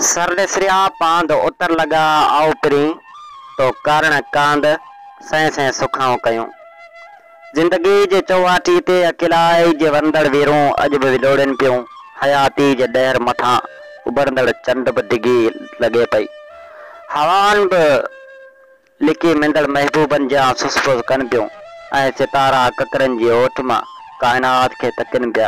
سر ڏسريا پاند اتر لڳا آئو پرين تو ڪارڻ ڪاند سين سين سکائون ڪيون زندگي جي چوواٽي تي اڪيلائي جي ورندڙ ويرون اڄ به ولوڙين پيون حياتي جي ڏهر مٿان اڀرندڙ چنڊ به ڊگهي لڳي پئي هوائن به لڪي مندڙ محبوبن جيان سس ڦس ڪن پيون ۽ ستارا ڪڪرن جي اوٺ مان ڪائنات کي تڪن پيا.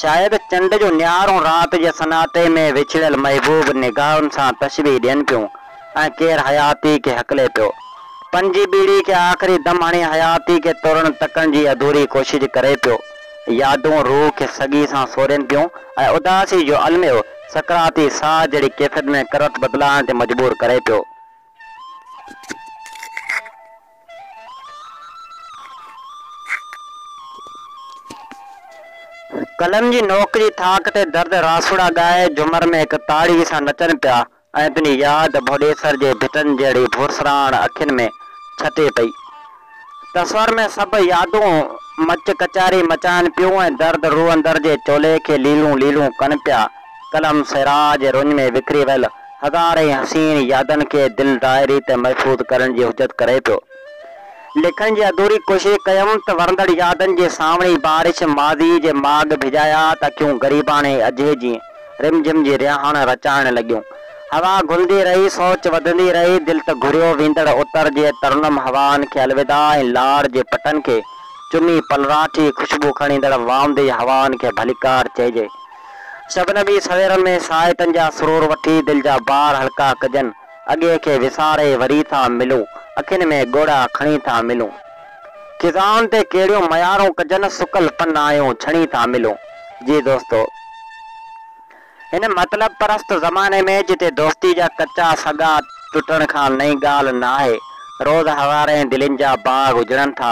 شايد چنڊ جون نهارون رات جي سناٽي ۾ وڇڙيل محبوب نگاهن سان تشبيهه ڏين پيون ۽ ڪير حياتي کي هڪلي پيو. پنهنجي ٻيڙي کي آخري دم هڻي حياتي کي ترڻ تڪڻ جي اڌوري ڪوشش ڪري پيو. يادون روح کي سڳي سان سورين پيون ۽ اداسي جو الميو سڪراتي ساهه جهڙي ڪيفيت ۾ ڪروت بدلائڻ تي مجبور ڪري پيو. قلم جي نوڪ جي ٿاڪ تي درد راسوڙا ڳائي جھومر ۾ ھڪ تاڙي سان نچن پيا ۽ تنھنجي ياد ڀوڏيسر جي ڀٽن جھڙي ڀورسراڻ اکين ۾ ڇتي پئي. تصور ۾ سڀ يادون مچ ڪچهري مچائن پيون ۽ درد روح اندر جي چولي کي ليلون ليلون ڪن پيا. قلم صحرا جي رڃ ۾ وکري ويل هزارين حسين يادن کي دل دائي ريت محفوظ ڪرڻ جي حجت ڪري پيو. لکڻ جي اڌوري ڪوشش ڪيم ته ورندڙ يادن جي سانوڻي بارش ماضي جي ماڳ ڀيڄايا ته اکيون غريباڻي اجهي جيئن. رم جھم جي رهاڻ رچائڻ لڳيون. هوا گهلندي رهي، سوچ وڌندي رهي، دل ته گهريو ويندڙ اتر جي ترنم هوائن کي الوداع ۽ لاڙ جي پٽن کي چمي پلراٺي خوشبو کڻيندڙ وامدي هوائن کي ڀليڪار چئجي. شبنمي سويرن ۾ ساعتن جا سرور وٺي دل جا بار هلڪا ڪجن. اڳي کي وساري وري ٿا ملون، اکين ۾ ڳوڙها کڻي ٿا ملون. خزائن تي ڪهڙيون ميارون ڪجن، سڪل پنايون ڇڻي ٿا ملون. جي دوستو! هن مطلب پرست زماني ۾ جتي دوستي جا ڪچا سڳا ٽٽڻ کان نئين ڳالهه ناهي، روز هزارين دلين جا باغ اجڙن ٿا،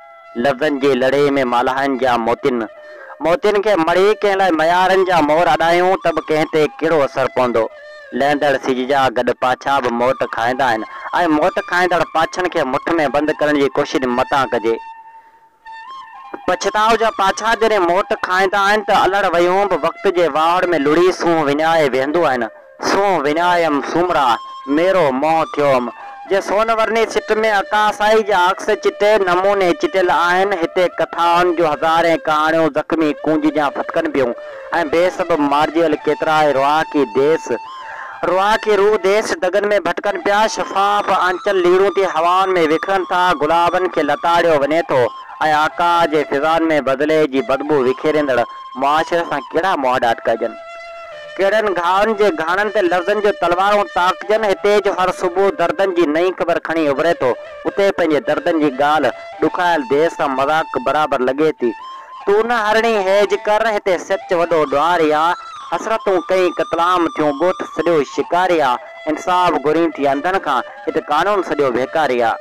لفظن جي لڙهي ۾ مالهائن جا موتين موتين کي مڙهي ڪنهن لاء ميارن جا مور اڏايون ته به ڪنهن تي ڪهڙو اثر پوندو. لهندڙ سج جا گڏ پاڇا به موٽ کائيندا آهن ۽ موٽ کائيندڙ پاڇن کي مٺ ۾ بند ڪرڻ جي ڪوشش متان ڪجي. پڇتاء جا پاڇا جڏهن موٽ کائيندا آهن ته الهڙ ويهون به وقت جي واهڙ ۾ لڙهي سونهن وڃائي ويهندو آهن. سون وڃايم سومرا، ميرو منهن ٿيوم. جي سون ورني سٽ ۾ عڪاسائي جا عڪس چٽي نموني چٽيل آهن، هتي ڪٿائن جون هزارين ڪهاڻيون زخمي ڪونج جيان ڦٿڪن پيون ۽ بي سبب مارجيل ڪيترائي رهاڪي ديس، رهاڪي روح ديس دڳن ۾ ڀٽڪن پيا، شفاف آنچل ليڙون ٿي هوائن ۾ وکرن ٿا، گلابن کي لتاڙيو وڃي ٿو ۽ آڪاء جي فضائن ۾ بدلي جي بدبو وکيريندڙ معاشري سان ڪهڙا مهاڏاٽ ڪجن؟ ڪهڙن گهاون جي گهاڻن تي لفظن جون تلوارون تاڪجن، هتي جو هر صبح دردن جي نئين خبر کڻي اڀري ٿو، اتي پنهنجي دردن جي ڳالهه ڏکايل ديس سان مذاق برابر لڳي ٿي. تون نه هرڻي هيج ڪر، هتي سچ وڏو ڏوهاري آ، حسرتون ڪئين قتلام ٿيون، ڳوٺ سڄو شڪاري آ، انصاف گهرين ٿي انڌن کان، هت قانون سڄو ڀيڪاري آ.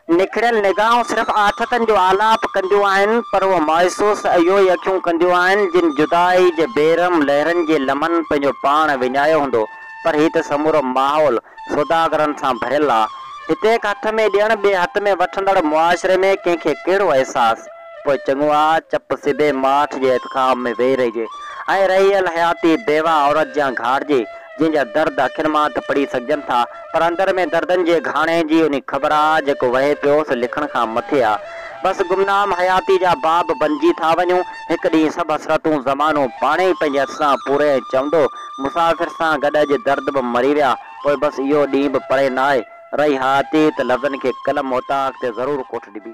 نکڙيل نگاهون صرف آٿتن جو آلاپ ڪنديون آهن، پر اهو مايوس اهو ئي اکيون ڪنديون آهن، جن جدائي جي بي رحم لهرن جي لمحن پنهنجو پاڻ وڃايو هوندو، پر هي ته سمورو ماحول سوداگرن سان ڀريل آ. هتي هڪ هٿ ۾ ڏيڻ، ٻئي هٿ ۾ وٺندڙ معاشري ۾ ڪنهن کي ڪهڙو احساس؟ پوء چڱو آ چپ سڌي ماٺ جي احتخاب ۾ ويهي رهجي ۽ رهيل حياتي بيواهه عورت جيان گهارجي، جنهن جا درد اکين مان ته پڙهي سگهجن ٿا، پر اندر ۾ دردن جي گهاڻي جي انهي خبر آ، جيڪو وهي پيو، سو لکڻ کان مٿي آ. بس گمنام حياتي جا باب بنجي ٿا وڃون. هڪ ڏينهن سڀ حسرتون زمانو پاڻهي ئي پنهنجي هٿ سان پوري ۽ چوندو، مسافر سان گڏ اڄ درد به مري ويا، پوء بس اهو ڏينهن به پري ناهي، رهي ها تي ته لفظن کي قلم اوطاق تي ضرور ڪوٺ ڏبي.